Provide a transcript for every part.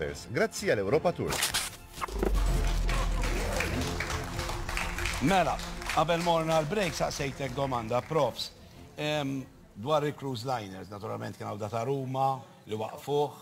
transfers, grazzi għal Europa Tours. Mela, qabel morna għal break saqsejtek domanda, profs. Dwar il-cruise liners, naturalment kien għawda ta' Ruma li waqfuħ.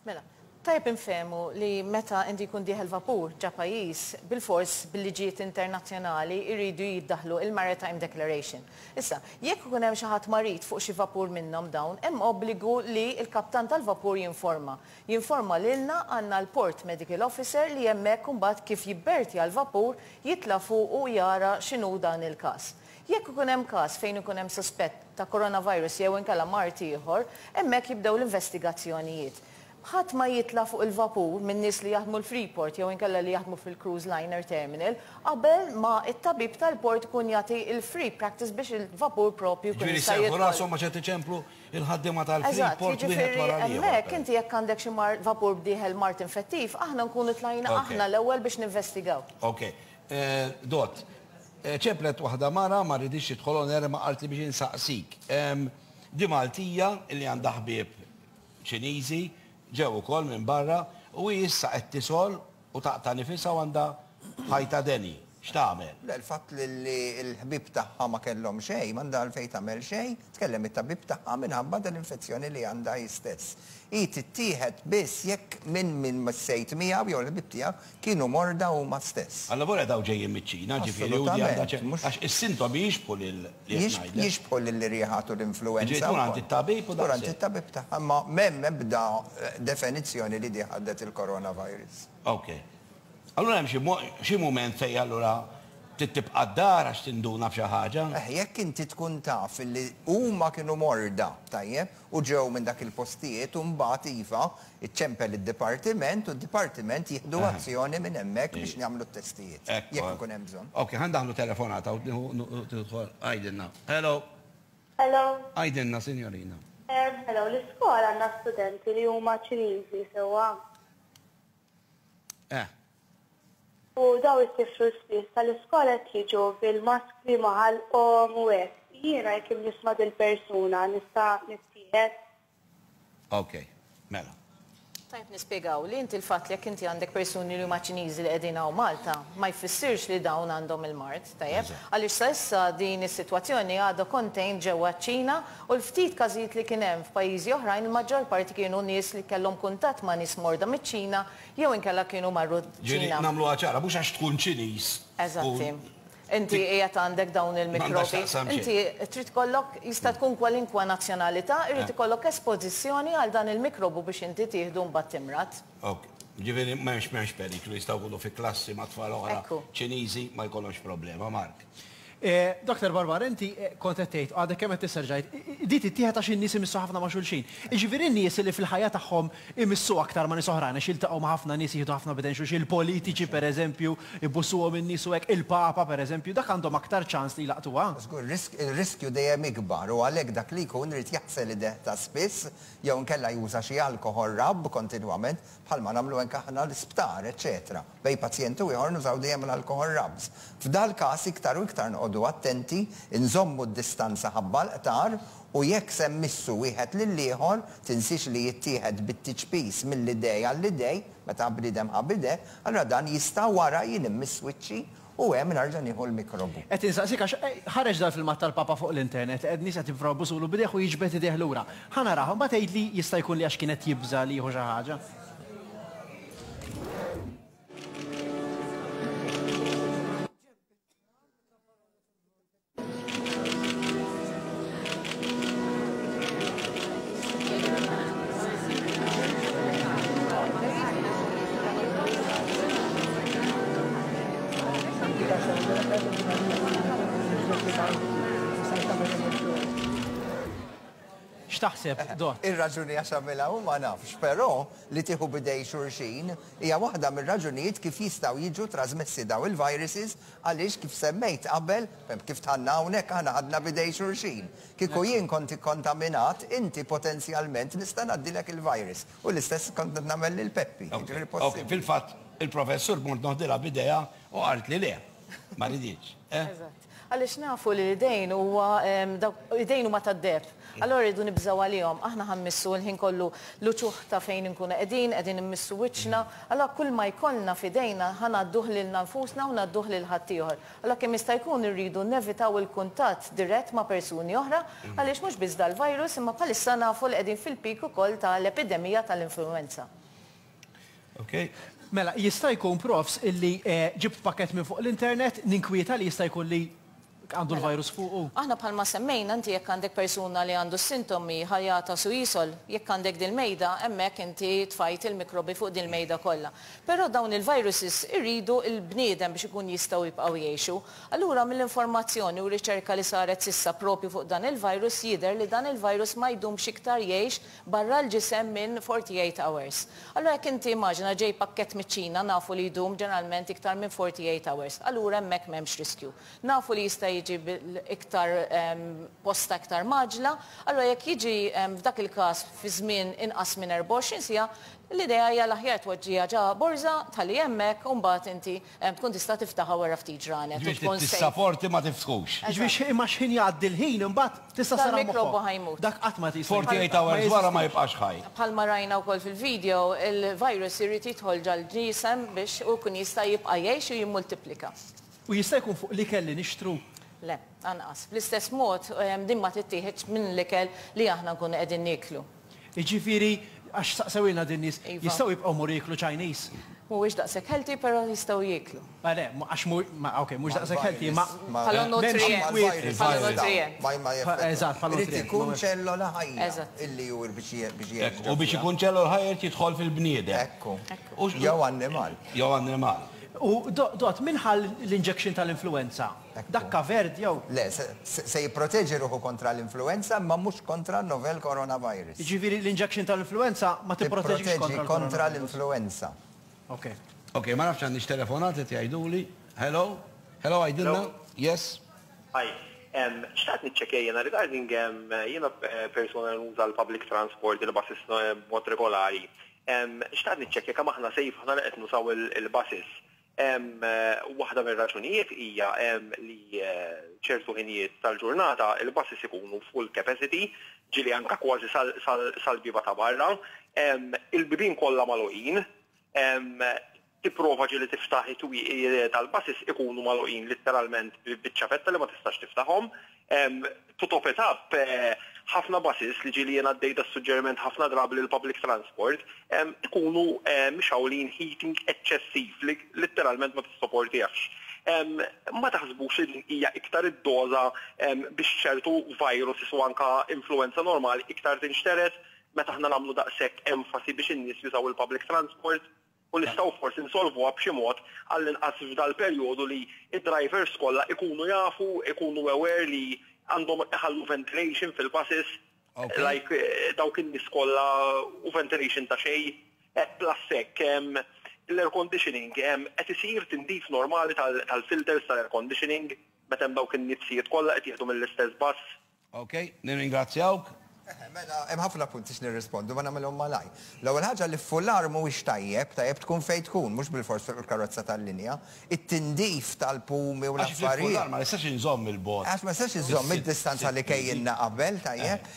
Mela, tajb infemu li meta indi kun diħel vapur ġa pajis, bil-fors bil-liġijiet internazjonali irridu jiddaħlu il-Maritime Declaration. Issa, jekk ikun hemm xi ħadd marid fuq xi vapur minnhom dawn, hemm obbligu li l-kaptan tal-vapur jinforma. Jinforma lilna, għandna l-Port Medical Officer li hemmhekk imbagħad kif jibbertja l-vapur jitla' fuqu u jara x'inhu dan il-każ. Jekk ikun hemm każ fejn ikun hemm suspett ta' coronavirus jew inkella mard ieħor, hemmhekk jibdew l-investigazzjonijiet. Ħadd ma jitla' fuq il-vapur min-nies li jaħdmu l-Freeport jew inkella li jaħdmu fil-Cruise Liner Terminal qabel ma t-tabib tal-port ikun jagħti l-free practice biex il-vapur proprju jkun jista' jidħol. Jiġifieri jserrħu rashom għax qed iċemplu l-ħaddiema tal-Freeport wieħed wara l-ieħor. Eżatt, jiġifieri hemmhekk inti jekk għandek xi mard, vapur b'dieħel mard infettiv, aħna nkunu tlajna aħna l-ewwel biex ninvestigaw. Ok. Dott. Ċemplet waħda mara, ma rriditx tidħol on air imma qaltli biex insaqsik. Di Maltija li għandha ħbieb Ċiniżi ġew ukoll minn barra u hi issa qed tisgħol u taqta' nifisha u għandha ħajta deni. X'tagħmel? Le, l-fatt li l-ħbieb tagħha ma kellhom xejn m'għandha għalfejn tagħmel xejn, tkellem it-tabib tagħha minħabba din l-infezzjoni li għandha hi stess. Hi tittieħed biss jekk minn min missejt miegħu jew il-ħbieb tiegħek kienu morda huma stess. Allavolja dawk ġejjin miċ-Ċina, ġifieri u di għandha ċ. Assolutament, mhux. Għax is-sintomi jixbħu lil. jixbħu lill-irjieħat u l-influwenza wkoll. Dur għand it-tabib tagħha. Imma m'hemm ebda definizzjoni li dieħ għaddet il-coronavirus. Ok. Allura hemm xi xi mument fejn allura trid tibqa' d-dar għax tinduna b'xi ħaġa? Eħ, jekk inti tkun taf li huma kienu morda, tajjeb, u ġew minn dak il-postijiet u mbagħad iva, iċċempel id-dipartiment u d-dipartiment jieħdu azzjoni minn hemmhekk biex nagħmlu t-testijiet, jekk ikun hemm bżonn. Okej, ħa ndaħħlu telefonata u tidħol. Għidilna. Hello. Hello. Għidilna, sinjorina. Hello, l-iskola għandha studenti li huma Ċiniżi sewwa? Eh. U daw it-tifl spiss tal-iskola qed jiġu bil-maskri ma' ħalqhom u hekk. Jiena jekk nisma' dil-persuna nista' nittieħed? Ok, mela. Tajjeb nispjegaw li inti l-fatt li jekk inti għandek persuni li huma Ċiniżi li qegħdin hawn Malta ma jfissirx li dawn għandhom il-mard. Tajjeb, għaliex sa issa din is-sitwazzjoni għadha contained ġewwa ċ-Ċina u l-ftit każijiet li kien hemm f'pajjiżi oħrajn il-maġġor parti kienu nies li kellhom kuntatt ma' nies morda miċ-Ċina jew inkella kienu marru ċ-Ċina. Ġifieri nagħmluha ċara, mhux għax tkun Ċiniż tkun. Inti qiegħed għandek dawn il-mikrobi. Inti trid ikollok, jista' tkun kwalinkwa nazzjonalità, irid ikollok espożizzjoni għal dan il-mikrobu biex inti tieħdu mbagħad timrad. Ok, ġifieri m'hemmx m'hemmx periklu jistgħu jkunu fi klassi ma' tfal oħra Ċiniżi ma jkollhomx problema, Mark. Doktor Barbar, inti kont qed tgħid, għadek kemm qed tisser ġajt, din tittieħed għax in-nies imissu ħafna ma' xulxin. Jiġifieri n-nies li fil-ħajja tagħhom imissu aktar ma' nies oħrajn għax jiltaqgħu ma' ħafna nies jieħdu ħafna b'idejn xulxin, il-politiċi pereżempju, ibussuhom in-nies u hekk, il-Papa pereżempju, dak għandhom aktar ċans li jlaqqtuha? Żgur, ir-riskju dejjem ikbar u għalhekk dak li jkun irid jaħsel idejh ta' spiss, jew inkella juża xi alkoħol rabb kontinwament, bħalma nagħmlu anke aħna l-isptar, eċċetera Bejn pazjent u ieħor nużaw dejjem l-alkoħol rabbs. F'dal-każ iktar u iktar noqogħdu attenti, inżommu d-distanza ħabba l-qtar u jekk se mmissu wieħed lill-ieħor, tinsiex li jittieħed bit-tiċpis mill-idej għall-idej, meta bniedem ħa b'idejh, allura dan jista' wara jien immiss wiċċi U hemm narġa' nieħu l-mikrobu. Qed insaqsik għax ħareġ dal-filmat tal-Papa fuq l-internet li qed nies qed jipprovaw jbusulu b'idejh u jiġbed idejh lura. Ħa narah u mbagħad għidli jista' jkun li għax kien qed jibża' li jieħu xi ħaġa. X'taħseb, eh, Dott? Ir-raġuni għax għamilha u ma nafx, però li tieħu bidej xurxin hija waħda mir-raġunijiet kif jistgħu jiġu trasmessi daw il-viruses Għaliex, kif semmejt qabel, kif dħalna hawnhekk, aħna ħadna b'idej xulxin. Kieku jien kont ikkontaminat, inti potenzjalment nista' ngħaddilek il-virus. U l-istess kont qed nagħmel lil Peppi. Jiġifieri possibbli. Fil-fatt, il-Professur kont noħdilha b'idejha u qaltli le. Ma riditx. Eżatt. Għaliex nafu li l-idejn huwa, dawk, l-idejn huma tad-deheb. Allura rridu nibżgħu għalihom. Aħna ħa mmissu l-ħin kollu l-uċuħ ta' fejn inkunu qegħdin, qegħdin immissu wiċċna, allura kull ma jkollna f'idejna ħa ngħadduh lilna nfusna u ngħadduh lil ħaddieħor. Allura kemm jista' jkun irridu nevitaw il-kuntatt dirett ma' persuni oħra għaliex mhux biss dal-virus imma bħalissa nafu li qegħdin fil-peak ukoll ta' l-epidemija ta' l-influwenza. Ok. Mela, jista' jkun Profs illi ġibt pakkett minn fuq l-internet, ninkwieta li jista' jkun li. Għandu l-virus fuqu? Aħna bħalma semmejna, inti jekk għandek persuna li għandu s-sintomi, ħa jagħtas u jisol. Jekk għandek dil-mejda, hemmhekk inti tfajt il-mikrobi fuq dil-mejda kollha. Però dawn il-viruses iridu l-bniedem biex ikun jistgħu jibqgħu jgħixu. Allura mill-informazzjoni u r-riċerka li saret s'issa proprju fuq dan il-virus jidher li dan il-virus ma jdumx iktar jgħix barra l-ġisem minn 48 hours. Allura jekk inti immaġina ġej pakkett miċ-Ċina nafu li jdum ġeneralment iktar minn 48 hours, allura hemmhekk m'hemmx riskju. Nafu li jista' jiġi iktar posta iktar mgħaġġla, allura jekk jiġi f'dak il-każ fi żmien inqas minn 24 siegħa, l-idea hija l-aħjar tpoġġiha ġa borża, tħalli hemmhekk u mbagħad inti Tkun tista' tiftaħha wara ftit ġranet u Jiġifieri tkun safe. tissaporti ma tiftħux. Jiġifieri imma x'ħin jgħaddi l-ħin imbagħad tista' ssarrah moħħok. Dal-mikrobu ħa jmut. Dak qatt ma jista' jmut. 48 hours wara ma jibqax ħaj. Bħalma rajna wkoll fil-video, il-virus irid jidħol ġall-ġisem biex hu jkun jista' jibqa' jgħix u jimmultiplika. U jista' jkun fuq l-ikel li nixtru? Le, anqas. Bl-istess mod, din ma tittieħedx minn l-ikel li aħna nkunu qegħdin nieklu. Jiġifieri, għax saqsewilna din nies, jistgħu jibqgħu jmorru jieklu Chinese? Mhuwiex daqshekk healthy però jistgħu jieklu. Le le, għax mhu, ok, mhux daqshekk healthy imma. Bħala nutrient. Bħala nutrient. Eżatt, bħala nutrient. Irid ikun ċellola ħajja. Eżatt. Illi hu biex jgħix. Hekk, u biex ikun ċellola ħajja irid jidħol fil-bniedem. Hekku. Jew annimal. Jew annimal. U Dott, min ħa l-injection tal-influwenza? Dak kavert jew? Le, se jipproteġi ruħu kontra l-influwenza imma mhux kontra n-novel coronavirus. Jiġifieri l-injection tal-influwenza ma tipproteġix kontra l-coronavirus? Tipproteġi kontra l-influwenza. Okej. Okej, ma nafx għandniex telefonat qed jgħiduli. Hello? Hello għidilna. Yes. Hi. Xtaqt niċċekkja jiena regarding jiena persuna li nuża l-public transport, il-buses b'mod regolari. Xtaqt niċċekkja kemm aħna safe aħna li qed nużaw il-buses. Waħda mir-raġunijiet hija li ċertu ħinijiet tal-ġurnata il-buses ikunu full capacity, ġieli anke kważi sal-bieba ta' barra. Il-bibien kollha magħluqin, tipprova ġieli tiftaħ it-twieqi tal-buses ikunu magħluqin litteralment bi ċavetta li ma tistax tiftaħhom. To top it up, ħafna buses li ġieli jien għaddej das-suġġeriment ħafna drabi li l-public transport, ikunu mixgħulin heating eċċessiv li litteralment ma tissoportihx. Ma taħsbux li din hija iktar id-doża biex ċertu viruses u anke influwenza normali iktar tinxtered meta aħna nagħmlu daqshekk enfasi biex in-nies jużaw il-public transport? u nistgħu forsi nsolvuha b'xi mod għallinqas f'dal-perjodu li d-drivers kollha ikunu jafu, ikunu aware li għandhom iħallu ventilation fil-buses like dawk in-nies kollha u ventilation ta' xejn. Plus hekk, l-air conditioning, qed isir tindif normali tal-filters tal-air conditioning meta hemm dawk in-nizzijiet kollha qed jieħdu mill-istess bus? Ok, nirringrazzjawk. Eħe, mela, hemm ħafna punti x'nirrispondu, ma nagħmilhom malajr. L-ewwel ħaġa li f'Fular mhuwiex tajjeb, tajjeb tkun fejn tkun, mhux bilfors fuq il-karozza tal-linja. It-tindif tal-pumi u l-affarijiet. Għax f'Fular ma nistax inżomm il-bogħod. Għax ma nistax inżomm id-distanza li kejjilna qabel, tajjeb.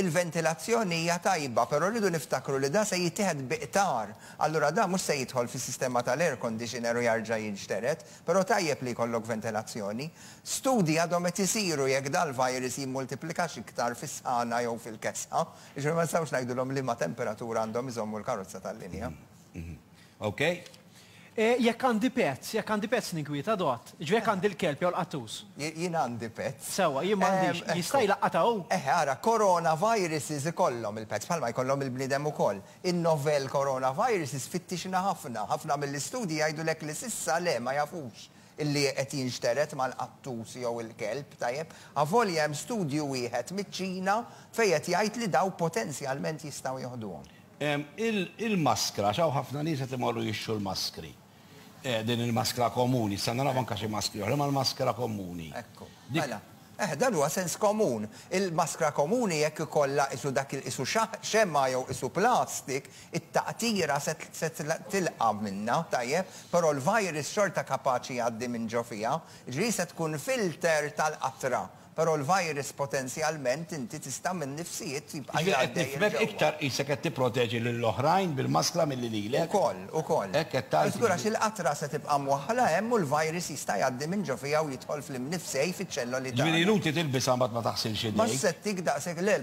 Il-ventilazzjoni hija tajba, però rridu niftakru li dan se jittieħed bi qtar. Allura dan mhux se jidħol fis-sistema tal-air conditioner u jarġa' jinxtered, Però tajjeb li jkollok ventilazzjoni. Studji għadhom qed isiru jekk dal-virus jimmultiplikax iktar fis-sħana jew fil-kesħa, jiġifieri ma nistgħux ngħidulhom liema temperatura għandhom iżommu l-karozza tal-linja. Okej. Jekk għandi pets, jekk għandi pets ninkwiet, adott? Jiġifieri jekk għandi l-kelb jew l-qattus. Jien għandi pets. Sewwa, jien m'għandix. Jista' jlaqqatha hu? Eħe, ara, coronaviruses ikollhom il-pets, bħalma jkollhom il-bniedem ukoll. In-novel coronavirus isfittixna ħafna. Ħafna mill-istudji jgħidulek li s'issa le, ma jafux illi qed jinxtered mal-qattus jew il-kelb, tajjeb, avolja hemm studju wieħed miċ-Ċina fejn qed jgħid li dawk potenzjalment jistgħu joħduhom. Il-maskra, għax hawn ħafna nies qed imorru jixtru l-maskri. Eh, din il-maskra komuni, sa naraw anka xi maskri oħra, ma l-maskra komuni. Ekku, mela. Eh, dan huwa sens komun. Il-maskra komuni jekk ikollha isu dak il-isu xemma jew isu plastik, it-taqtira se tilqa' minnha, tajjeb, però l-virus xorta kapaċi jgħaddi minn ġo fiha, ġifieri se tkun filter tal-qatra. Però l-virus potenzjalment inti tista' minn nifsijiet jibqa' jgħaddej 'il ġewwa. Jiġifieri qed nifhmek iktar qisek qed tipproteġi lill-oħrajn bil-maskra milli lilek? Ukoll, ukoll. Hekk qed tgħid? Żgur għax il-qatra se tibqa' mwaħħla hemm u l-virus jista' jgħaddi minn ġo fiha u jidħol fl-imnifsej fiċ-ċelloli tagħna. Jiġifieri inutli tilbisha mbagħad ma taħsilx idejk? Ma settik daqshekk le,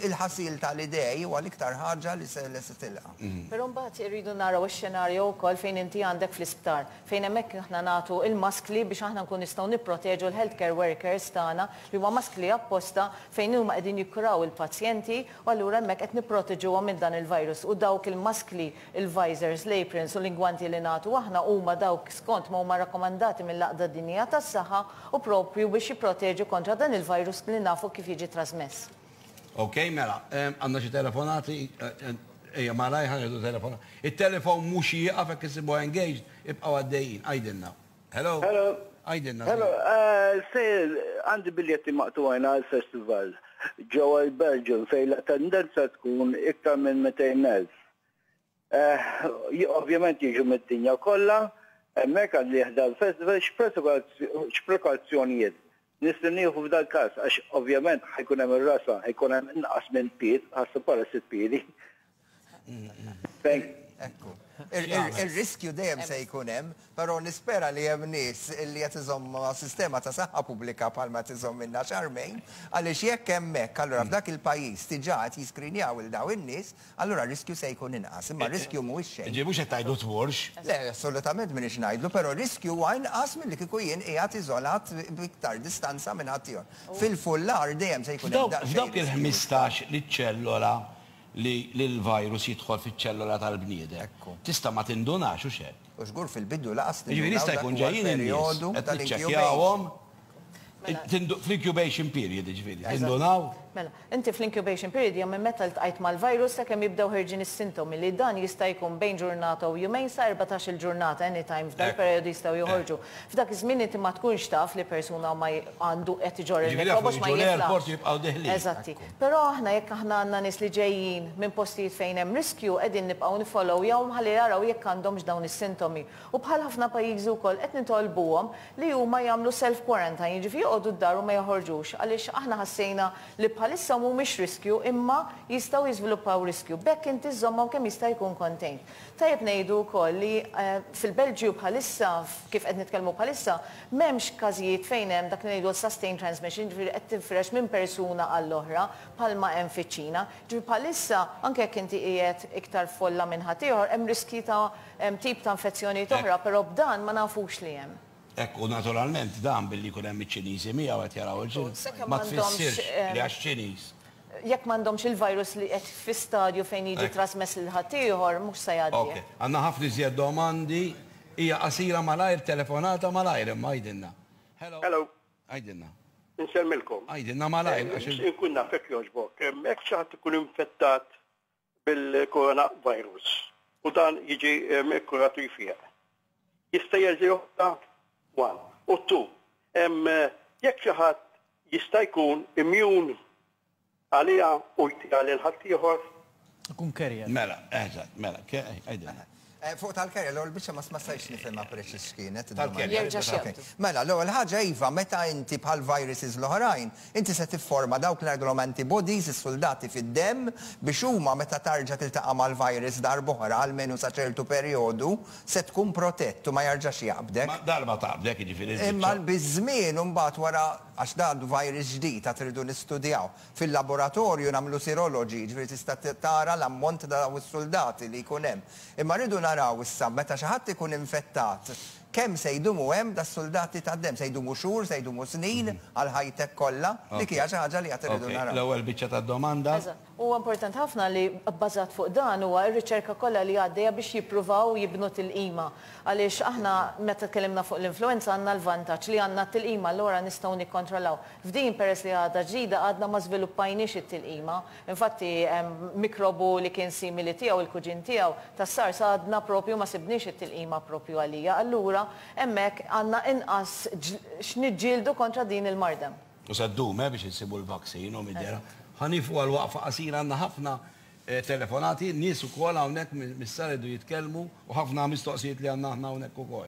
il-ħasil tal-idej huwa l-iktar ħaġa li se tilqa'. Però mbagħad irridu naraw ix-xenarjo wkoll fejn inti għandek fl-isptar fejn hemmhekk aħna nagħtu l-maskli biex aħna nkunu nistgħu nipproteġu l-health care workers tagħna li huma maskli apposta fejn huma qegħdin jikkuraw il-pazjenti u allura hemmhekk qed nipproteġuhom minn dan il-virus u dawk il-maskli, il-visors, l-aprons u l-ingwanti li nagħtu aħna huma dawk skont ma huma rakkomandati mill-Għaqda Dinjija tas-Saħħa u proprju biex jipproteġu kontra dan il-virus li nafu kif jiġi trasmess. Ok, mela, għandna xi telefonati, ejja malajr ħa nieħdu telefona. It-telefon mhux jieqaf jekk issibuha engaged, ibqgħu għaddejjin, għidilna. Hello? Hello? Għidilna. Hello, sir, għandi biljetti maqtugħin għall-festival ġewwa l-Belgium fejn l-attendenza tkun iktar minn 200,000. Ovvjament jiġu mid-dinja kollha hemmhekk għal ħda l-festival, x'prekawzjonijiet nistgħu nieħu f'dal-każ għax ovvjament ħa jkun hemm ir-rasa, ħa jkun hemm inqas minn pied, ħasbu bħala sitt piedi. Ekku. Ir-riskju dejjem se jkun hemm Però nispera li hemm nies li qed iżommha sistema ta' saħħa pubblika bħal ma qed iżommilna x'armejn, għaliex jekk hemm hekk, allura f'dak il-pajjiż diġà qed jiskrinjaw lil dawn in-nies, allura r-riskju se jkun inqas. Imma r-riskju mhuwiex xejn. Jiġifieri mhux qed tgħidlu tmurx? Le, assolutament m'iniex ngħidlu, però r-riskju huwa inqas milli kieku jien qiegħed iżolat b'iktar distanza minn ħaddieħor. Fil-fullar dejjem se jkun hemm daqsxejn riskju. F'dawk il-ħmistax li ċellola li l-virus jidħol fiċ-ċellola tal-bniedem, tista' ma tindunax, hux hekk? U żgur fil-bidu lanqas li Jiġifieri jista' jkun ġejjin in-nies qed niċċekkjawhom fl-incubation period jiġifieri, tindunaw? Mela, inti fl-incubation period hija minn meta ltqajt mal-virus sakemm jibdew ħerġin is-sintomi li dan jista' jkun bejn ġurnata u jumejn sa erbatax-il ġurnata any time f'dal-perjodu jistgħu joħorġu. F'dak iż-żmien inti ma tkunx taf li persuna ma għandu qed iġorr il-mikrobju għax ma jitlaħqx. Jiġifieri dawk li jiġu l-airport jibqgħu deħlin. Eżatti. Però aħna jekk aħna għandna nies li ġejjin minn postijiet fejn hemm riskju qegħdin nibqgħu nifollowyahom ħalli jaraw jekk għandhomx dawn is-sintomi u bħal ħafna pajjiżi wkoll qed nitolbuhom li huma jagħmlu self quarantine jiġifieri joqogħdu d-dar u ma joħorġux għaliex aħna ħassejna li bħalissa mhumiex riskju imma jistgħu jiżviluppaw riskju b'hekk inti żżommhom kemm jista' jkun contained. Tajjeb ngħidu wkoll li fil-Belġju bħalissa, kif qed nitkellmu bħalissa, m'hemmx każijiet fejn hemm dak li ngħidu l-sustained transmission, jiġifieri qed tinfirex minn persuna għall-oħra bħalma hemm fiċ-Ċina. Jiġifieri bħalissa, anke jekk inti qiegħed iktar f'folla minn ħaddieħor, hemm riskji ta' tip ta' infezzjonijiet oħra, però b'dan ma nafux li hemm. Hekk hu naturalment dan billi jkun hemm iċ-Ċiniżi miegħu qed jaraw il-film ma tfissirx li għax Ċiniż. Jekk m'għandhomx il-virus li qed fi stadju fejn jiġi trasmess lil ħaddieħor mhux se jgħaddi. Ok. Għandna ħafna iżjed domandi. Hija qasira malajr telefonata malajr imma għidilna. Hello. Hello. Għidilna. Insellmilkom. Għidilna malajr għax. Inkun naf jekk jogħġbok. Jekk xi ħadd ikun infettat bil-coronavirus u dan jiġi kkurat u jfieq. Jista' jerġa' joħodha? One. U two, jekk xi ħadd jista' jkun immjun għaliha u jtiha lil ħaddieħor? Ikun carrier. Mela, eżatt, mela, għidilna. Fuq tal-kerja, l-ewwel biċċa ma stajtx nifhimha preċiż x'kienet. Tal-kerja. Jerġa' x'jaqdu. Mela, l-ewwel ħaġa iva, meta inti bħal viruses l-oħrajn, inti se tifforma dawk l-ngħidulhom antibodies, is-suldati fid-demm, biex huma meta tarġa' tiltaqa' mal-virus darb'oħra, almenu sa ċertu perjodu, se tkun protett u ma jarġax jaqbdek. Ma darba taqbdek, jiġifieri l-biċċa. Imma biż-żmien imbagħad wara, għax dan virus ġdid għad irridu nistudjaw, Fil-laboratorju nagħmlu siroloġi, jiġifieri tista' tara l-ammont ta' dawn is-suldati li jkun hemm. Imma rridu naraw issa meta xi ħadd ikun infettat kemm se jdumu hemm das-suldati tad-demm. Se jdumu xhur, se jdumu snin għal ħajtek kollha? Dik hija xi ħaġa li għad irridu naraw. Okej, l-ewwel biċċa tad-domanda. Eżatt. Huwa importanti ħafna li bbażat fuq dan huwa r-riċerka kollha li għaddejja biex jippruvaw jibnu tilqima. Għaliex aħna meta tkellimna fuq l-influwenza għandna l-vantaġġ li għandna t-tilqima allura nistgħu nikkontrollaw. F'din, peress li għadha ġdida, għadna ma żviluppajniex it-tilqima. Infatti, mikrobu li kien simili tiegħu, il-kuġin tiegħu, tas-SARS għadna proprju ma sibniex it-tilqima proprju għalija. Allura, hemmhekk għandna inqas x'niġġieldu kontra din il-mardem. U se ddum, eh, biex insibu l-vaccine, hu mid-dehra. Ħa nieqfu għal waqfa qasira, għandna ħafna telefonati, nies ukoll hawnhekk mis-sala jridu jitkellmu u ħafna mistoqsijiet li għandna aħna hawnhekk ukoll.